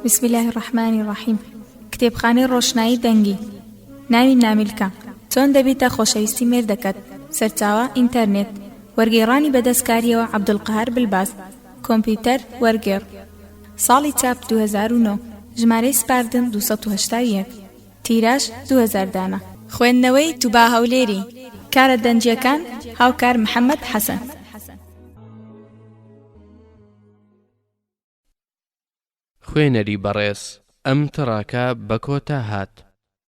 بسم اللە الرحمن الرحیم کتێبخانەی ڕۆشنایی دەنگی ناوی نامیلکە چۆن دەبیتە خۆشەویستی مێردەکەت سەرچاوە ئینتەرنێت وەرگێڕانی بەدەستکاریەوە عەبدولقەهار بلباس کۆمپیوتەر وەرگێڕ ساڵی چاپ دوو هەزار و نۆ ژمارەی سپاردن دوو سەد و هەشتا و یەک تیراژ دوو هەزار دانە. خوێندنەوەی توبا هەولێری. کارە دەنگییەکان، هاوکار محەمەد حەسەن. خوێنەری بەڕێز ئەم تڕاکە بەکۆتا هات.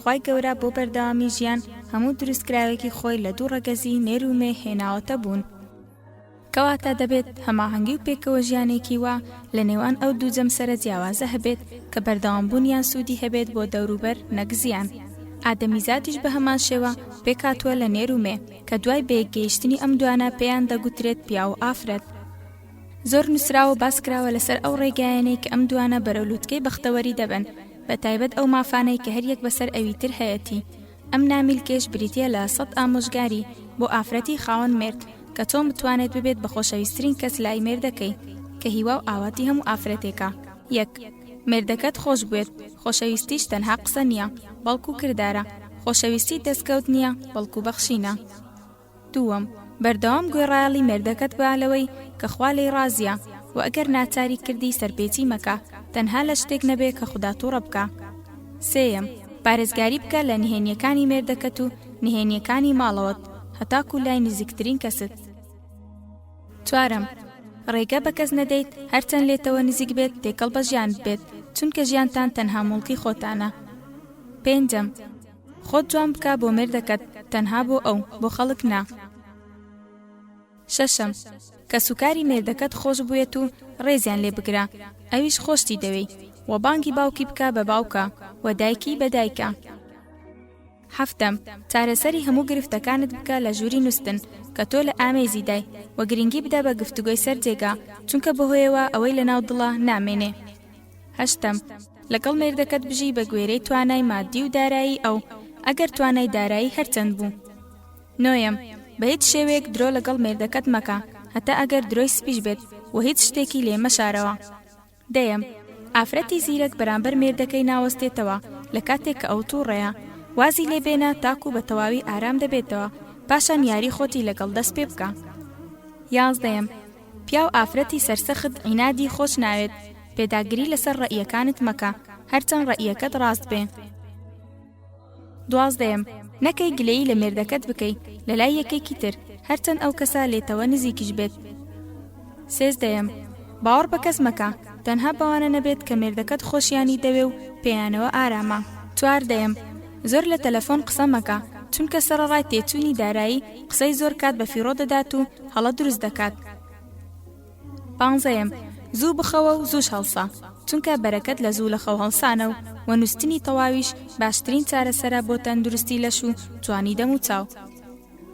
خوای گەورە بۆ بەردەوامی ژیان هەموو دروستکراوێکی خۆی لە دوو ڕەگەزی نێر و مێ هێناوەتە بوون کەواتە دەبێت هەماهەنگی و پێکەوە ژیانێکی وا لە نێوان ئەو دوو جەمسەرە جیاوازە هەبێت کە بەردەوام بوونیان سوودی هەبێت بۆ دەوروبەر نەک زیان ئادەمیزادیش بە هەمان شێوە پێکهاتووە لە نێر و مێ کە دوای بەیەکگەیشتنی ئەم دوانە پێیان دەگوترێت پیاو و ئافرەت. زۆر نوسراوە باس کراوە لەسەر ئەو ڕێگایانەی کە ئەم دوانە بەرەو لوتکەی بەختەوەری دەبەن بە تایبەت ئەو مافانەی کە هەر یەک بەسەر ئەوی تر هەیەتی ئەم نامیلکەیش بریتیە لە سەد ئامۆژگاری بۆ ئافرەتی خاوەن مێرد کە چۆن بتوانێت ببێت بە خۆشەویسترین کەس لای مێردەکەی کە هیوا و ئاواتی هەموو ئافرەتێکە یەک مێردەکەت خۆش بوێت خۆشەویستیش تەنها قسە نیە بەڵکو کردارە خۆشەویستی دەستکەوت نیە بەڵکو بەخشینە. دووەم، بەردەوام گوێڕایەڵی مێردەکەت بە لەوەی کە خوا لێی ڕازیە، وە ئەگەر ناچاریت کردی سەرپێچی مەکە، تەنها لە شتێک نەبێ کە خودا توڕە بکا. سێیەم، پارێزگاری بکە لە نهێنیەکانی مێردەکەت و نهێنیەکانی ماڵەوەت هەتاکو لای نزیکترین کەست. چوارەم، ڕێگە بە کەس نەدەیت هەرچەند لێتەوە نزیک بێت تێکەڵ بە ژیانت بێت، چونکە ژیانتان تەنها موڵکی خۆتانە. پێنجەم، خۆت جوان بکە بۆ مێردەکەت تەنها بۆ ئەو بۆ خەڵک نا شەشەم کەسوکاری مێردەکەت خۆش بوێت و ڕێزیان لێ بگرە ئەویش خۆشتی دەوێی و بانگی باوکی بکە بە باوکە و دایکی بە دایکە حەفتەم چارەسەری هەموو گرفتەکانت بکە لە ژووری نووسن کە تۆ لە ئامێزی دای و گرنگی بدە بە گفتوگۆی سەر جێگا چونکە بەهۆیەوە ئەوەی لە ناو دڵە نامێنێ هەشتەم، لەگەڵ مێردەکەت بژی بە گوێرەی توانای مادی و دارایی ئەو، ئەگەر توانای دارایی هەرچەند بوو. نۆیەم، بە هیچ شێوەیەک درۆ لەگەڵ مێردەکەت مەکە، هەتا ئەگەر درۆی سپیش بێت و هیچ شتێکی لێ مەشارەوە. دەیەم، ئافرەتی زیرەک بەرامبەر مێردەکەی ناوەستێتەوە لە کاتێک کە ئەو تووڕەیە، وازی لێ بێنە تاکوو بە تەواوی ئارام دەبێتەوە، پاشان یاری خۆتی لەگەڵ دەست پێ بکە. یازدەیەم، پیاو ئافرەتی سەرسەخت عینادی خۆش ناوێت پێداگری لەسەر ڕەئیەکانت مەکە هەرچەند ڕەئیەکەت ڕاست بێ دوازدەیەم نەکەی گلەیی لە مێردەکەت بکەی لەلای یەکێکی تر هەرچەند ئەو کەسە لێتەوە نزیکیش بێت سێزدەیەم باوەڕ بە کەس مەکە تەنها بەوانە نەبێت کە مێردەکەت خۆشیانی دەوێ و پێیانەوە ئارامە چواردەیەم زۆر لە تەلەفۆن قسە مەکە چونکە سەرەڕای تێچووی دارایی قسەی زۆر کات بە فیڕۆ دەدات و هەڵە دروست دەکات پانزەیەم زوو بخەوە و زووش هەڵسە چونکە بەرەکەت لە زوو لە خەو هەڵسانە و وە نووستنی تەواویش باشترین چارەسەرە بۆ تەندروستی لەش و جوانی دەم و چاو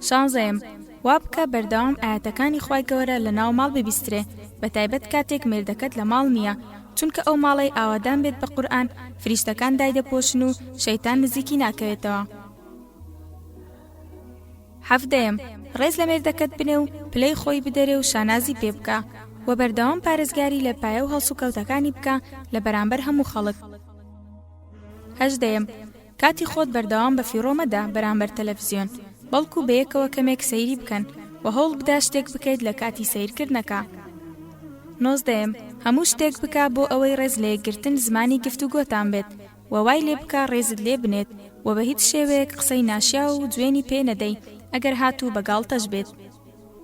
شانزەیەم وا بکە بەردەوام ئاەتەکانی خوای گەورە لە ناو ماڵ ببیسترێ بە تایبەت کاتێک مێردەکەت لە ماڵ نییە چونکە ئەو ماڵەی ئاوادان بێت بە قورئان فریشتەکان دایدەپۆشن و شەیتان نزیکی ناکەوێتەوە. حەڤدەیەم، ڕێز لە مێردەکەت بنێ و پلەی خۆی بدەرێ و شانازی پێ بکە، وە بەردەوام پارێزگاری لە پایە و هەڵسوکەوتەکانی بکە لە بەرامبەر هەموو خەڵک. هەژدەیەم، کاتی خۆت بەردەوام بە فیڕۆ مەدە بەرامبەر تەلەفزیۆن، بەڵکو بەیەکەوە کەمێک سەیری بکەن، وە هەوڵ بدە شتێک بکەیت لە کاتی سەیرکردنەکە. نۆزدەیەم، هەموو شتێک بکە بۆ ئەوەی ڕێز لە یەکگرتن زمانی گفتوگۆتان بێت، و وای لێ بکە ڕێزت لێ بنێت و بە هیچ شێوەیەک قسەی ناشیاو و جوێنی پێ نەدەی ئەگەر هاتوو بە گاڵتەش بێت.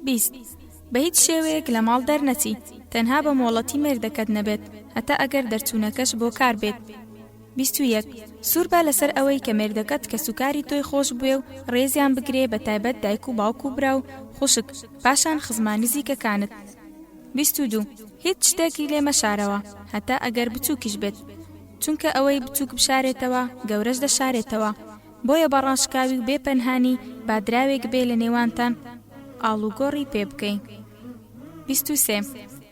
بیست، بە هیچ شێوەیەک لە ماڵ دەرنەچی تەنها بە مۆڵەتی مێردەکەت نەبێت هەتا ئەگەر دەرچوونەکەش بۆ کار بێت. بیست و یەک، سوور بە لەسەر ئەوەی کە مێردەکەت کەسوکاری تۆی خۆش بوێ و ڕێزیان بگرێ بە تایبەت دایک و باوک و برا و خوشک پاشان خزمە نزیکەکانت. بیست و دوو، هیچ شتێکی لێ مەشارەوە هەتا ئەگەر بچووکیش بێت. چونکە ئەوەی بچووک بشارێتەوە گەورەش دەشارێتەوە، بۆیە بە ڕاشکاوی و بێ پەنهانی با دراوێک بێ لە نێوانتان ئاڵوگۆڕی پێ بکەین. بیست و سێ.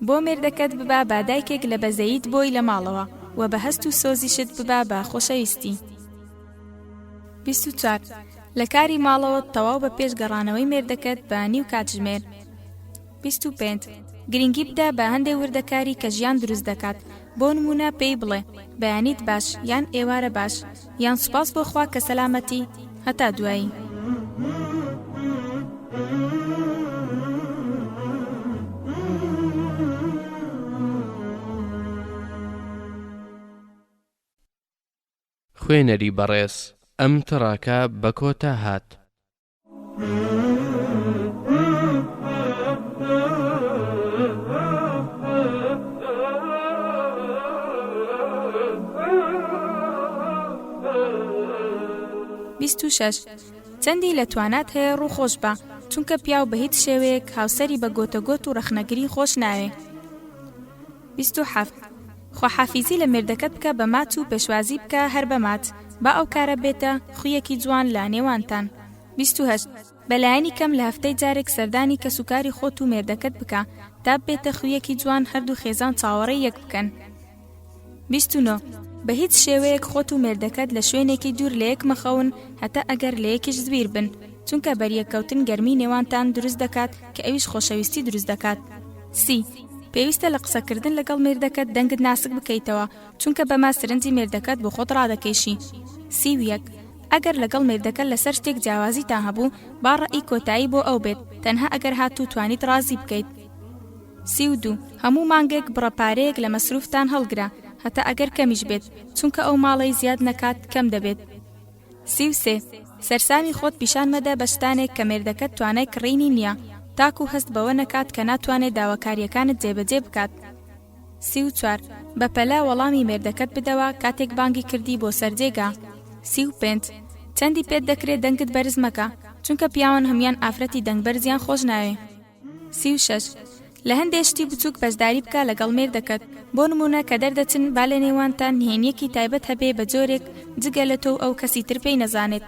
بۆ مێردەکەت ببە بە دایکێک لە بەزەییت بۆی لە ماڵەوە و بە هەست و سۆزیشت ببە بە خۆشەویستی. بیست و چوار. لە کاری ماڵەوەت تەواو بە پێش گەڕانەوەی مێردەکەت بە نیو کاتژمێر. بیست و پێنج، گرنگی بدە بە هەندێ وردەکاری کە ژیان دروست دەکات، بۆ نموونە پێی بڵێ، بەیانیت باش، یان ئێوارە باش، یان سوپاس بۆ خوا کە سەلامەتی. هەتا دوایی. خوێنەری بەڕێز ئەم تڕاکە بە کۆتا هات. چەندی لە توانات هەیە ڕووخۆش بە چونکە پیاو بە هیچ شێوەیەک هاوسری بە گۆتە گۆت و ڕخنەگری خۆش ناوێ بیست و حەفت، خواحافیزی لە مێردەکەت بکە بە مات و پێشوازی بکە هەر بە مات، با ئەو کارە بێتە خویەکی جوان لە نێوانتان. بیست و هەشت، بە لایەنی کەم لە هەفتەی جارێک سەردانی کەس و کاری خۆت و مێردەکەت بکە تا ببێتە خویەکی جوان هەردوو خێزان چاوەڕێی یەک بکەن. بیست و نۆ، بە هیچ شێوەیەک خۆت و مێردەکەت لە شوێنێکی دوور لە یەک مەخەون هەتا ئەگەر لە یەکیش زویر بن چونکە بەریەککەوتن گەرمی نێوانتان دروست دەکات، کە ئەویش خۆشەویستی دروست دەکات. سی، پێویستە لە قسەکردن لەگەڵ مێردەکەت دەنگت ناسک بکەیتەوە، چونکە بەمە سرنجی مێردەکەت بۆ خۆت ڕادەکێشی. سی و یەک، ئەگەر لەگەڵ مێردەکەت لەسەر شتێک جیاوازیتان هەبوو، با ڕەئی کۆتایی بۆ ئەو بێت، تەنها ئەگەر هات و توانیت ڕازی بکەیت. سی و دوو، هەموو مانگێک بڕە پارەیەک لە مەسروفتان هەڵگرە، هەتا ئەگەر کەمیش بێت، چونکە ئەو ماڵەی زیاد نەکات، کەم دەبێت. سی و سێ، سەرسامی خۆت پیشان مەدە بە شتانێک کە مێردەکەت توانای کڕینی نییە، تاکوو هەست بەوە نەکات کە ناتوانێت داواکارییەکانت جێبەجێ بکات. سی و چوار، بە پەلە وەڵامی مێردەکەت بدەوە کاتێک بانگی کردی بۆ سەر جێگا. سی و پێنج، چەندی پێت دەکرێ دەنگت بەرز مەکە، چونکە پیاوان هەموان ئافرەتی دەنگ بەرزیان خۆش ناوێ. سی و شەش. لە هەندێ شتی بچووک بەشداری بکە لەگەڵ مێردەکەت، بۆ نموونە کە دەردەچن با لە نێوانتان نهێنییەکی تایبەت هەبێ بە جۆرێک جگە لە تۆ و ئەو کەسی تر پێی نەزانێت.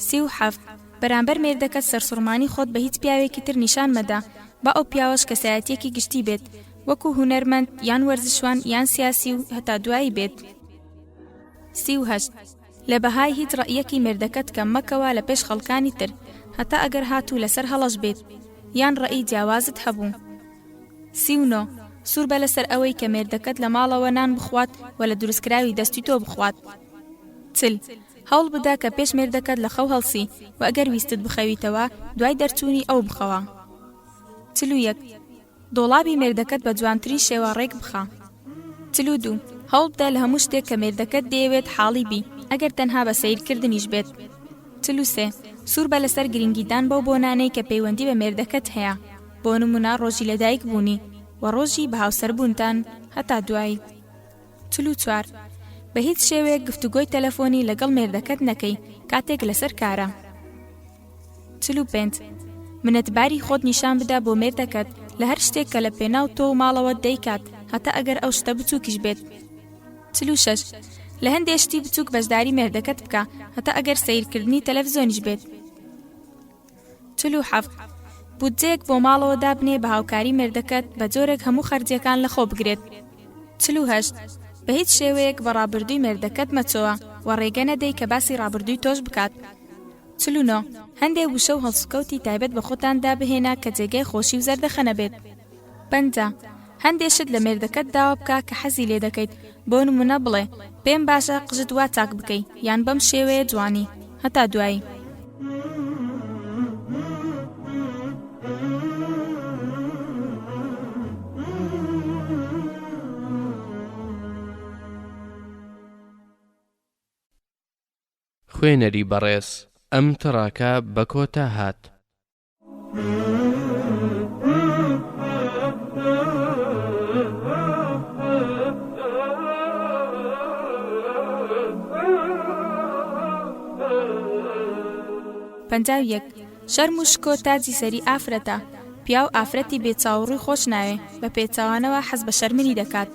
سی و حەفت. بەرامبەر مێردەکەت سەرسوڕمانی خۆت بە هیچ پیاوێکی تر نیشان مەدە، با ئەو پیاوەش کەسایەتییەکی گشتی بێت، وەکوو هونەرمەند یان وەرزشوان یان سیاسی و هەتا دوایی بێت. سی و هەشت. لە بەهای هیچ ڕەئیەکی مێردەکەت کەم مەکەوە لە پێش خەڵکانی تر هەتا ئەگەر هاتوو لەسەر هەڵەش بێت یان ڕەئی جیاوازت هەبوو. سی و نۆ، سوور بە لەسەر ئەوەی کە مێردەکەت لە ماڵەوە نان بخوات و لە دروستکراوی دەستی تۆ بخوات. چل، هەوڵ بدە کە پێش مێردەکەت لە خەو هەڵسی و ئەگەر ویستت بخەویتەوە دوای دەرچوونی ئەو بخەوە. چل و یەک، دۆڵابی مێردەکەت بە جوانترین شێوە ڕێک بخە. چل و دوو. هەوڵبدە لە هەموو شتێک کە مێردەکەت دەیەوێت حاڵی بی، ئەگەر تەنها بە سەیرکردنیش بێت. چل و سێ. سووربە لەسەر گرنگیدان بەو بۆنانەی کە پەیوەندی بە مێردەکەت هەیە، بۆ نموونە ڕۆژی لەدایکبوونی، و ڕۆژی بەهاوسەربوونتان. هەتا دوایی. چل و چوار، بە هیچ شێوەیەک گفتوگۆی تەلەفۆنی لەگەڵ مێردەکەت نەکەی کاتێک لەسەر کارە. چل و پێنج، منەتباری خۆت نیشان بدە بۆ مێردەکەت لە هەر شتێک کە لە پێناو تۆ و ماڵەوەت دەیکات هەتا ئەگەر ئەو شتە بچووکیش بێت. چل و شەش، لە هەندێ شتی بچووک بەشداری مێردەکەت بکە هەتا ئەگەر سەیرکردنی تەلەفزۆنیش بێت. چل و حەفت، بودجەیەک بۆ ماڵەوە دابنێ بە هاوکاری مێردەکەت بە جۆرێک هەموو خەرجییەکان لەخۆ بگرێت. چل و هەشت، بە هیچ شێوەیەک بە ڕابردووی مێردەکەت مەچۆوە و ڕێگە نەدەی کە باسی ڕابردووی تۆش بکات. چل و نۆ، هەندێ وشە و هەڵسوکەوتی تایبەت بە خۆتاندا بهێنە کە جێگای خۆشی و زەردەخەنە بێت. پەنجا، هەندێ شت لە مێردەکەت داوا بکە کە حەزی لێ دەکەیت، بۆ نموونە بڵێ، پێم باشە قژت وا چاک بکەی، یان بەم شێوەیە جوانی. هەتا دوایی. خوێنەری بەڕێز ئەم تڕاکە بە کۆتا هات. پەنجا و یەک شەرم و شکۆ تاجی سەری ئافرەتە پیاو ئافرەتی بێچاوڕووی خۆش ناوێ بە پێچوانەوە حەز بە شەرمنی دەکات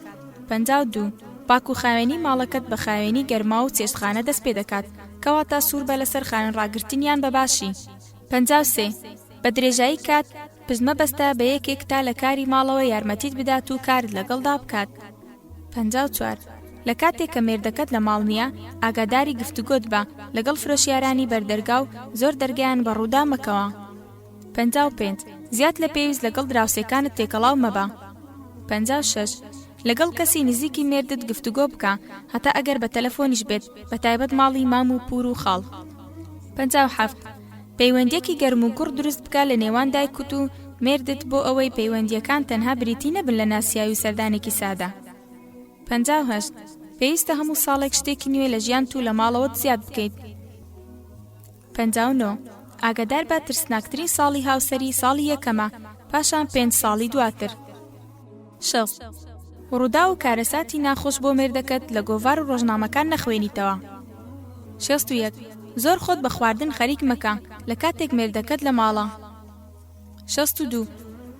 پەنجا و دوو پاک و خاوێنی ماڵەکەت بە خاوێنی گەرما و چێشتخانە دەست پێ دەکات کەواتە سوور بە لەسەر خاوێن ڕاگرتنیان بە باشی پەنجا و سێ، بە درێژایی کات پشت مەبەستە بە یەکێک تا لە کاری ماڵەوە یارمەتیت بدات و کارت لەگەڵدا بکات. پەنجا و چوار، لە کاتێک کە مێردەکەت لە ماڵ نییە، ئاگاداری گفتوگۆت بە لەگەڵ فرۆشیارانی بەر دەرگا و زۆر دەرگایان بە ڕوودا مەکەوە. پەنجا و پێنج، زیاد لە پێویست لەگەڵ دراوسێکانت تێکەڵاو مەبە. پەنجا و شەش، لەگەڵ کەسی نزیکی مێردت گفتوگۆ بکە هەتا ئەگەر بە تەلەفۆنیش بێت بە تایبەت ماڵی مام و پور و خاڵ پەنجا و حەفت پەیوەندیەکی گەرم و گوڕ دروست بکە لە نێوان دایکوت و مێردت بۆ ئەوەی پەیوەندیەکان تەنها بریتی نەبن لە ناسیاوی سەردانێکی سادە پەنجا و هەشت پێویستە هەموو ساڵێک شتێکی نوێ لە ژیان تو لە ماڵەوەت زیاد بکەیت پەنجا و نۆ ئاگادار بە ترسناکترین ساڵی هاوسەری ساڵی یەکەمە پاشان پێنج ساڵی دواتر شەست، ڕووداو و کارەساتی ناخۆش بۆ مێردەکەت لە گۆڤار و ڕۆژنامەکان نەخوێنیتەوە. شەست و یەک، زۆر خۆت بە خواردن خەریک مەکە لە کاتێک مێردەکەت لە ماڵە. شەست و دوو،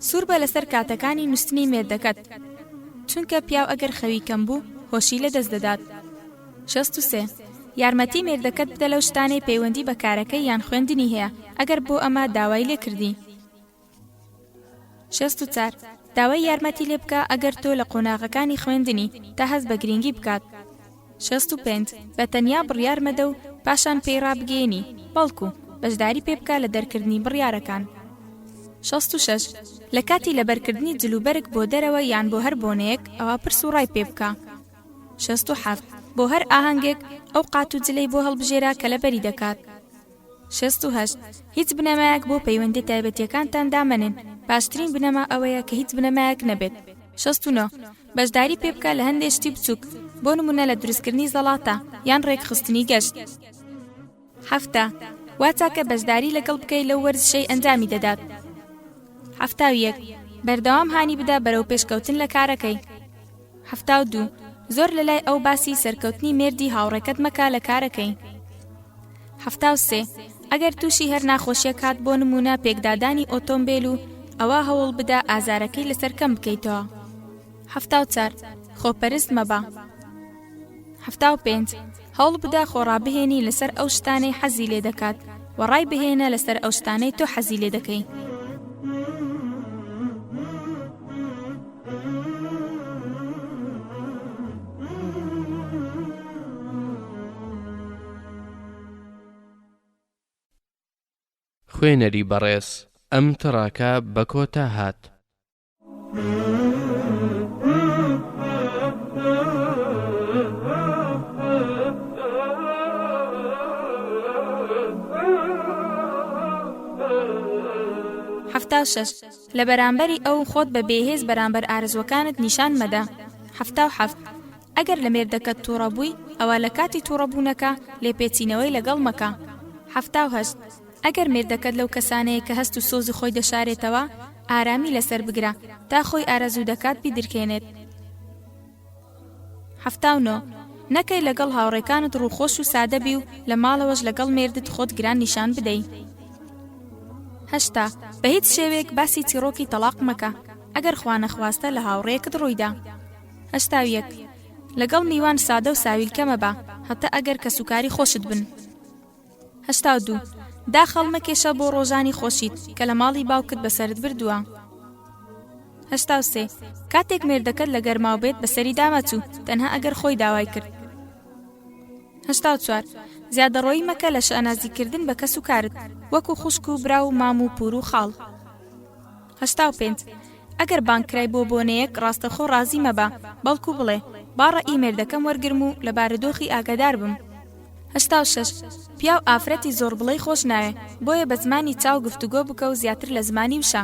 سوور بە لەسەر کاتەکانی نووستنی مێردەکەت، چونکە پیاو ئەگەر خەوی کەم بوو هۆشی لە دەست دەدات. شەست و سێ، یارمەتی مێردەکەت بدە لەو شتانەی پەیوەندی بە کارەکەی یان خوێندنی هەیە ئەگەر بۆ ئەمە داوای لێ کردی. شەست و چار، داوای یارمەتی لێ بکە ئەگەر تۆ لە قۆناغەکانی خوێندنی، تا هەست بە گرینگی بکات. شەست و پێنج، بە تەنیا بڕیار مەدە و پاشان پێی ڕابگەیەنی، بەڵکو بەشداری پێ بکە لە دەرکردنی بڕیارەکان. شەست و شەش، لە کاتی لەبەرکردنی جلوبەرگ بۆ دەرەوە یان بۆ هەر بۆنەیەک، ئەوا پرس و ڕای پێ بکە. شەست و حەفت، بۆ هەر ئاهەنگێک، ئەو قات و جلەی بۆ هەڵبژێرە کە لەبەری دەکات. شەست و هەشت، هیچ بنەمایەک بۆ پەیوەندیە تایبەتیەکانتان دامەنێن، باشترین بنەما ئەوەیە کە هیچ بنەمایەک نەبێت. شەست و نۆ، بەشداری پێبکە لە هەندێ شتی بچوک، بۆ نمونە لە دروستکردنی زەڵاتە، یان ڕێکخستنی گەشت. حەفتا، وا چاکە بەشداری لەگەڵ بکەی لەو وەرزشەی ئەنجامی دەدات. حەفتا و یەک، بەردەوام هانی بدە بەرەو پێشکەوتن لە کارەکەی. حەفتا و دوو، زۆر لە لای ئەو باسی سەرکەوتنی مێردی هاوڕێکەت مەکە لە کارەکەی. حەفتا و سێ، ئەگەر تووشی هەر ناخۆشیەک هات بۆ نموونە پێکدادانی ئۆتۆمبێل و ئەوا هەوڵ بدە ئازارەکەی لەسەر کەم بکەیتەوە. حەفتا و چار، خۆپەرست مەبە. حەفتا و پێنج، هەوڵبدە خۆڕابهێنی لەسەر ئەو شتانەی حەزی لێ دەکات و ڕای بهێنە لەسەر ئەو شتانەی تۆ حەزی لێ دەکەی. خوێنەری بەڕێز ئەم تڕاکە بە کۆتا هات. حەفتا و شەش، لە بەرامبەری ئەو خۆت بە بێهێز بەرامبەر ئارەزووەکانت نیشان مەدە. حەفتا و حەفت، ئەگەر لە مێردەکەت تووڕە بووی، ئەوا لە کاتی تووڕە بوونەکە لێپێچینەوەی لەگەڵ مەکە. حەفتا و هەشت، ئەگەر مێردەکەت لەو کەسانەیە کە هەست و سۆزی خۆی دەشارێتەوە، ئارامی لەسەر بگرە تا خۆی ئارەزوو دەکات بیدرکێنێت. حەفتا و نۆ. نەکەی لەگەڵ هاوڕێکانت ڕووخۆش و سادە بی و لە ماڵەوەش لەگەڵ مێردت خۆت گران نیشان بدەی. هەشتا. بە هیچ شێوەیەک باسی چیڕۆکی تەڵاق مەکە، ئەگەر خوانەخواستە لە هاوڕێیەکت ڕوویدا. هەشتا و یەک. لەگەڵ میوان سادە و ساویلکە مەبە، هەتە ئەگەر کەسوکاری خۆشت بن. هەشتا و دوو، داخ هەڵمەکێشە بۆ ڕۆژانی خۆشیت کە لە ماڵی باوکت بەسەرت بردووە. هەشتا و سێ، کاتێک مێردەکەت لە گەرماو بێت بەسەری دامەچوو تەنها ئەگەر خۆی داوای کرد. هەشتا و چوار، زیادەڕۆیی مەکە لە شانازیکردن بە کەس و کارت وەکو خوشک و برا و مام و پور و خاڵ. هەشتا و پێنج، ئەگەر بانگ کرای بۆ بۆنەیەک ڕاستەخۆ ڕازی مەبە، بەڵکو بڵێ، با ڕەئی مێردەکەم وەرگرم و لە بارودۆخی ئاگادار بم. هەشتا و شەش، پیاو ئافرەتی زۆربڵێی خۆش ناوێ، بۆیە بە زمانی چاو گفتوگۆ بکە و زیاتر لە زمانی وشە.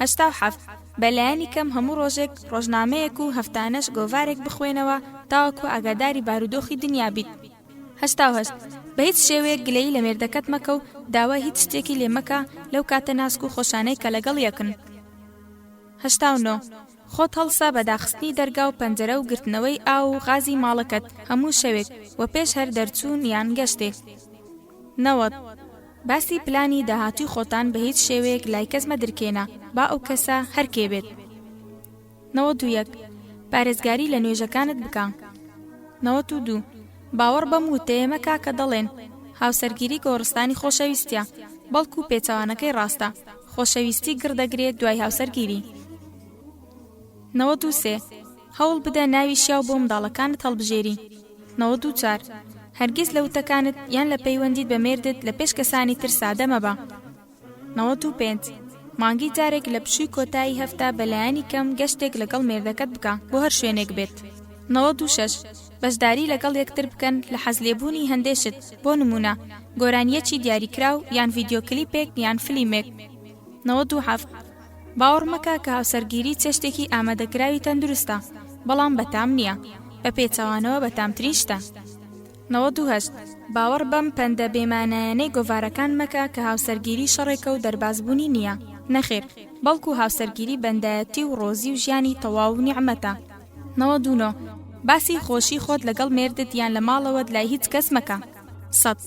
هەشتا و حەفت، بە لایەنی کەم هەموو ڕۆژێک ڕۆژنامەیەک و هەفتانەش گۆڤارێک بخوێنەوە تاوەکو ئاگاداری بارودۆخی دنیا بیت. هەشتا و هەشت، بە هیچ شێوەیەک گلەیی لە مێردەکەت مەکە و داوای هیچ شتێکی لێ مەکە لەو کاتە ناسک و خۆشانەی کە لەگەڵ یەکن. هەشتا و نۆ، خۆت هەڵسە بە داخستنی دەرگا و پەنجەرە و گرتنەوەی ئاو و غازی ماڵەکەت هەموو شەوێک و پێش هەر دەرچوون یان گەشتێک. نەوەد، باسی پلانی داهاتووی خۆتان بە هیچ شێوەیەک لای کەس مەدرکێنە با ئەو کەسە هەر کێ بێت. نەوەد و یەک، پارێزگاری لە نوێژەکانت بکە. نەوەد و دوو، باوەڕ بەم وتەیە مەکە کە دەڵێن، هاوسەرگیری گۆڕستانی خۆشەویستییە، بەڵکو پێچەوانەکەی ڕاستە، خۆشەویستی گڕ دەگرێ دوای هاوسەرگیری. نەوەد و سێ، هەوڵ بدە ناوی شیاو بۆ منداڵەکانت هەڵبژێری. نەوەد و چوار، هەرگیز لە وتەکانت یان لە پەیوەندیت بە مێردت لە پێش کەسانی تر سادە مەبە. نەوەد و پێنج، مانگی جارێک لە پشووی کۆتایی هەفتە بە لایەنی کەم گەشتێک لەگەڵ مێردەکەت بکە بۆ هەر شوێنێک بێت. نەوەد و شەش، بەشداری لەگەڵ یەکتر بکەن لە حەزلێبوونی هەندێ شت، بۆ نموونە، گۆرانییەکی دیاریکراو یان ڤیدیۆ کلیپێک یان فلیمێک. نەوەد و حەفت، باوەڕ مەکە کە هاوسەرگیری چێشتێکی ئامادەکراوی تەندروستە، بەڵام بەتام نییە، بە پێچەوانەوە بەتامترین شتە. نەوەد و هەشت، باوەڕ بەم پەندە بێ مانایانەی گۆڤارەکان مەکە کە هاوسەرگیری شەڕێکە و دەرباز بوونی نییە، نەخێر، بەڵکو هاوسەرگیری بەندایەتی و ڕۆزی و ژیانی تەواو و نیعمەتە. نەوەد و نۆ، باسی خۆشی خۆت لەگەڵ مێردت یان لە ماڵەوەت لای هیچ کەس مەکە. سەد،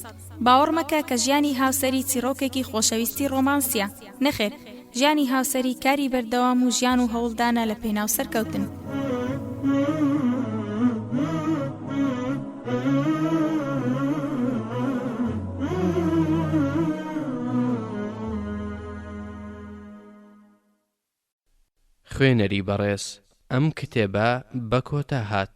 باوەڕ مەکە کە ژیانی هاوسەری چیڕۆکێکی خۆشەویستی ڕۆمانسییە. نەخێر، ژیانی هاوسەری کاری بەردەوام و ژیان و هەوڵدانە لە پێناو سەرکەوتن. خوێنەری بەڕێز ئەم کتێبە بە کۆتا هات.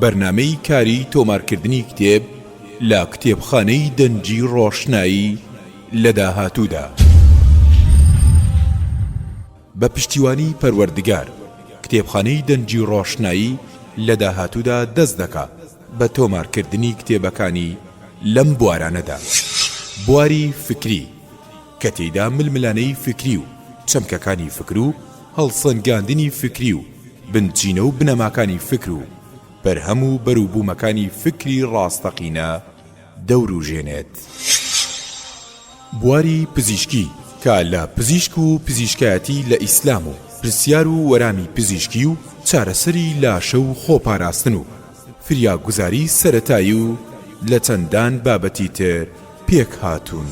بەرنامەی کاری تۆمارکردنی کتێب لە کتێبخانەی دەنگی ڕۆشنایی لە داهاتوودا. بە پشتیوانی پەروەردگار، کتێبخانەی دەنگی ڕۆشنایی لە داهاتوودا دەست دەکا بە تۆمارکردنی کتێبەکانی لەم بوارانەدا، بواری فکری، کە تێیدا ململانێی فکری و چەمکەکانی فکر و، هەڵسەنگاندنی فیکری و بنچینە و بنەماکانی فیکر و بەرهەم و بەروبوومەکانی فیکری ڕاستەقینە دەوروژێنێت. بواری پزیشکی، کە لە پزیشک و پزیشکایەتی لە ئیسلام و پرسیار و وەرامی پزیشکی و چارەسەری لاشە و خۆپاراستن و فریاگوزاری سەرەتایی و لە چەندان بابەتی تر پێکهاتوون.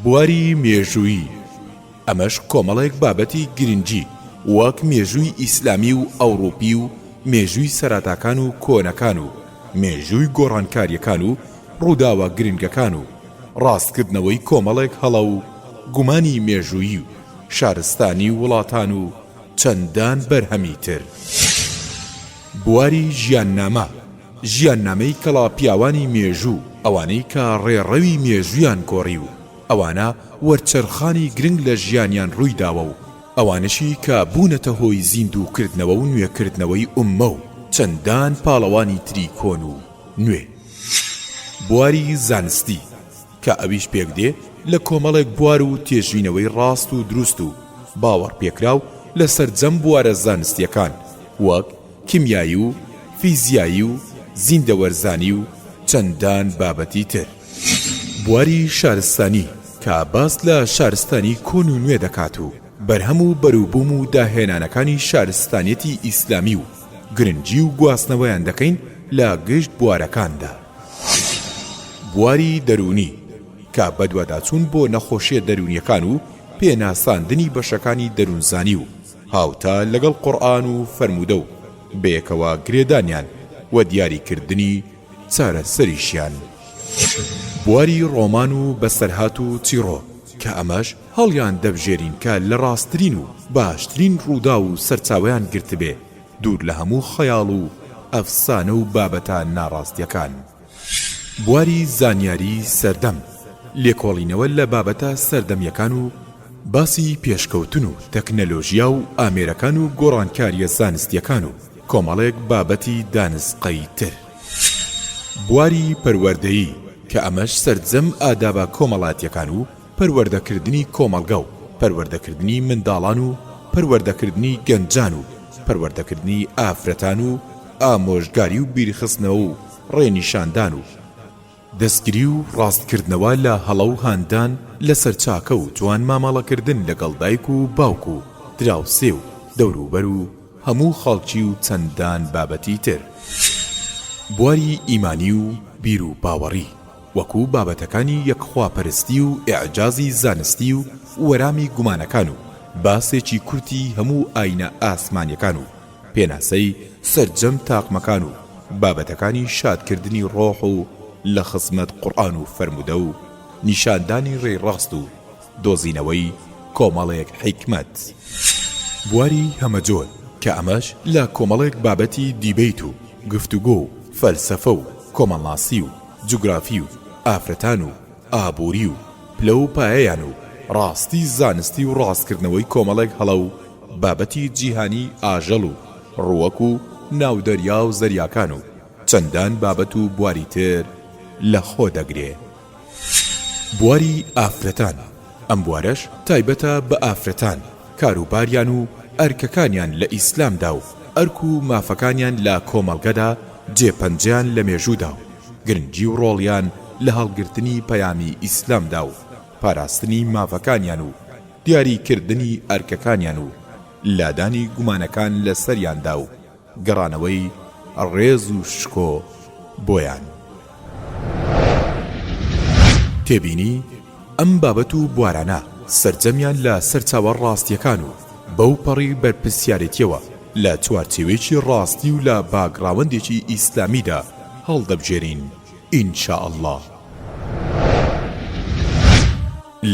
بواری مێژوویی، ئەمەش کۆمەڵێک بابەتی گرنگی وەک مێژووی ئیسلامی و ئەوڕوپی و مێژووی سەراتاکان و کۆنەکان و مێژووی گۆڕانکاریەکان و ڕووداوە گرنگەکان و ڕاستکردنەوەی کۆمەڵێک هەڵە و گومانی مێژوویی و شارستانی وڵاتان و چەندان بەرهەمی تر. بواری ژیاننامە. ژیاننامەی کەڵا پیاوانی مێژوو، ئەوانەی کە ڕێڕەوی مێژوویان گۆڕی و ئەوانە وەرچەرخانی گرنگ لە ژیانیان ڕووی داوە و ئەوانەشی کە بوونەتە هۆی زیندوو کردنەوە و نوێ کردنەوەی ئوممە و چەندان پاڵەوانی تری کۆن و نوێ بواری زانستی کە ئەویش پێک دێ لە کۆمەڵێک بوار و تێژینەوەی ڕاست و دروست و باوەڕ پێکراو لە سەرجەم بوارە زانستیەکان وەک کیمیایی و فیزیایی و زیندەوەرزانی و چەندان بابەتی تر. بواری شارستانی کە باس لە شارستانی کۆن و نوێ دەکات و بەرهەم و بەروبووم و داهێنانەکانی شارستانیەتی ئیسلامی و گرنگی و گواستنەوەیان دەکەین لە گشت بوارەکاندا. بواری دەروونی کە بەدواداچوون بۆ نەخۆشیە دەروونیەکان و پێناساندنی بەشەکانی دەروونزانی و هاوتا لەگەڵ قورئان و فەرموودە و بەیەکەوە گرێدانیان و دیاریکردنی چارەسەریشیان بواری ڕۆمان و بەسەرهات و چیڕۆ کە ئەمەش هەڵیان دەبژێرین کە لە ڕاستترین و باشترین ڕووداو و سەرچاوەیان گرتبێ دوور لە هەموو خەیاڵ و ئەفسانە و بابەتە ناڕاستیەکان. بواری زانیاری سەردەم، لێکۆڵینەوە لە بابەتە سەردەمیەکان و باسی پێشکەوتن و تەکنەلۆژیا و ئامێرەکان و گۆڕانکاریە زانستیەکان و کۆمەڵێک بابەتی دانسقەی تر. بواری پەروەردەیی، کە ئەمەش سەرجەم ئادابە کۆمەڵاتیەکان و پەروەردەکردنی کۆمەڵگە و پەروەردەکردنی منداڵان و پەروەردەکردنی گەنجان و پەروەردەکردنی ئافرەتان و ئامۆژگاری و بیرخستنەوە و ڕێنیشاندان و دەستگری و ڕاستکردنەوە لە هەڵە و هاندان لەسەر چاکە و جوان مامەڵەکردن لەگەڵ دایک و باوک و دراوسێ و دەوروبەر و هەموو خەڵکی و چەندان بابەتی تر بواری ئیمانی و بیروباوەڕی وەکو بابەتەکانی یەک خواپەرستی و ئیعجازی زانستی و وەرامی گومانەکان و باسێکی کورتی هەموو ئاینە ئاسمانیەکان و پێناسەی سەرجەم تاقمەکان و بابەتەکانی شادکردنی ڕۆح و لە خزمەت قوڕئان و فەرموودە و نیشاندانی ڕێی ڕاست و دۆزینەوەی کۆمەڵێک حیکمەت بواری هەمەجۆر کە ئەمەش لە کۆمەڵێک بابەتی دیبەیت و گفتوگۆ و فەلسەفە و کۆمەڵناسی و جوگرافی و ئافرەتان و ئابووری و پلە و پایەیان و ڕاستی زانستی و ڕاستکردنەوەی کۆمەڵێک هەڵە و بابەتی جیهانیی ئاژەڵ و ڕووەک و ناودەریا و زەریاکان و چەندان بابەت و بواری تر لە خۆ دەگرێ. بواری ئافرەتان. ئەم بوارەش تایبەتە بە ئافرەتان کاروباریان و ئەرکەکانیان لە ئیسلامدا و ئەرک و مافەکانیان لە کۆمەڵگەدا جێ پەنجەیان لە مێژوودا و گرنگی و ڕۆڵیان لە هەڵگرتنی پەیامی ئیسلامدا و پاراستنی مافەکانیان و دیاری کردنی ئەرکەکانیان و لادانی گومانەکان لە سەریاندا و گەڕانەوەی ڕێز و شکۆ بۆیان. تێبینی، ئەم بابەت و بوارانە سەرجەمیان لە سەرچاوە ڕاستییەکان و بەو پەڕی بەرپرسیارێتییەوە لە چوارچێوەیەکی ڕاستی و لە باکگڕاوەندێکی ئیسلامیدا هەڵدەبژێرین، ان شاءاللە.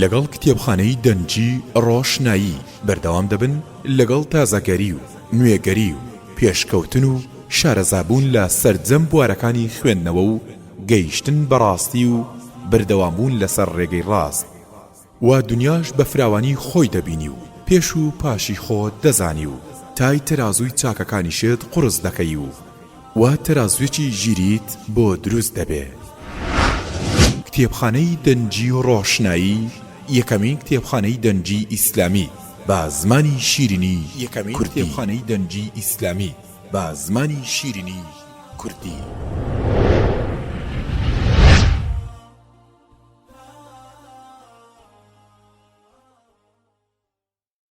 لەگەڵ کتێبخانەی دەنگی ڕۆشنایی بەردەوام دەبن لەگەڵ تازەگەری و نوێگەری و پێشکەوتن و شارەزابوون لە سەرجەم بوارەکانی خوێندنەوە و گەیشتن بە ڕاستی و بەردەوامبوون لەسەر ڕێگەی ڕاست و دنیاش بە فراوانی خۆی دەبینی و پێش و پاشی خۆت دەزانی و تای تەرازووی چاکەکانیشت قوڕس دەکەی و وا تەرازوێکی ژیریت بۆ دروست دەبێ. کتێبخانەی دەنگی ڕۆشنایی یەکەمین کتێبخانەی دەنگی ئیسلامی بە زمانی شیرینی کوردی.